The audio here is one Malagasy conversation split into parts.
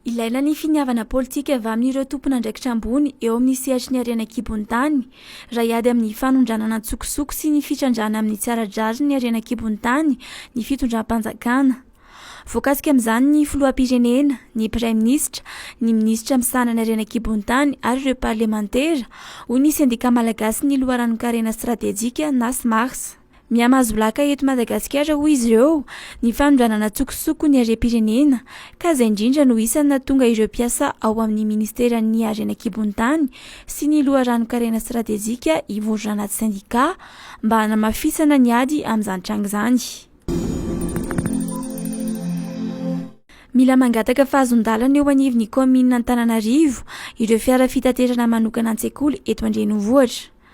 Ilaina ny finiavana politika avy amin'ireo tompon'andraikitra ambony eo amin'ny sehatry ny harena an-kibon'ny tany, raha hiady amin'ny fanondranana an-tsokosoko sy ny fitrandrahana amin'ny tsy ara-drariny ny harena an-kibon'ny tany ny fitondram-panjakana. Voakasika amin'izany ny filoham-pirenena, ny praiminisitra, ny minisitra misahana ny harena an-kibon'ny tany ary ireo parlemantera, hoy ny Sendika malagasin'ny loharanon-karena stratejika, Nasmars. Mihamahazo laka eto Madagasikara hoy izy ireo ny fanondranana an-tsokosoko ny harem-pirenena ka izay indrindra no isan'ny nahatonga ireo mpiasa ao amin'ny Ministeran'ny Harena an-kibon-tany sy ny loharanon-karena stratejika hivory ranaty sendika mba hanamafisana ny ady amin'izany tranga izany. Mila mangataka fahazon-dalana eo anivon'ny kaominina Antananarivo ireo fiara fitaterana manokana an-tsekoly eto an-drenivohitra.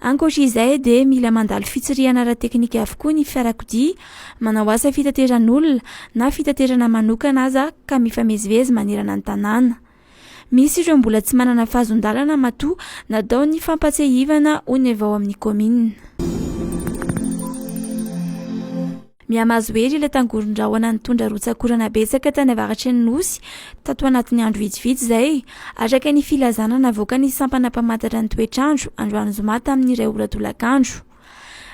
Ankoatra izay dia mila mandalo fitsirihana ara-teknika avokoa ny fiarakodia manao asa fitateran'olona na fitaterana manokana aza ka mifamezivezy manerana ny tanàna. Misy ireo mbola tsy manana fahazon-dalana matoa natao ny fampatsiahivana hoy ny avy ao amin'ny kaominina. Mihamahazo hery ilay tangoron-drahona nitondra rotsak'orana betsaka tany avaratry ny Nosy, tato anatin'ny andro vitsivitsy izay. Araka ny filazana navoakan'ny sampana mpamantatra ny toetr'andro, androany zoma tamin'ny iray ora tolakandro.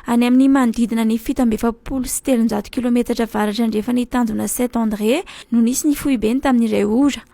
Any amin'ny manodidina ny fito amby efapolo sy telonjato kilometatra avaratra andrefan'ny tanjona Saint André no nisy ny foiben tamin'ny iray ora.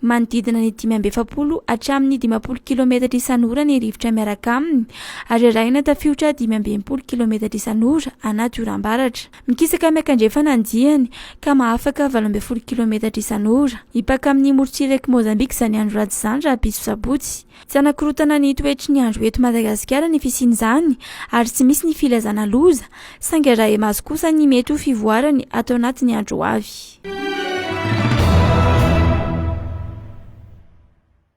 manodidina ny dimy amby efapolo hatramin'ny dimampolo kilometatra isan'ora ny rivotra miaraka aminy, ary arahina tafiotra dimy amby enimpolo kilometatra isan'ora anaty oram-baratra. Mikisaka miankandrefana ny diany, ka mahafaka valo ambin'ny folo kilometatra isan'ora. Hipaka amin'ny morontsirak'i Mozambika izany andro ratsy izany rahampitso sabotsy. Tsy hanakorotana ny toetry ny andro eto Madagasikara ny fisian'izany ary tsy misy ny filazana loza, saingy arahi-maso kosa ny mety ho fivoarany ato anatin'ny andro ho avy.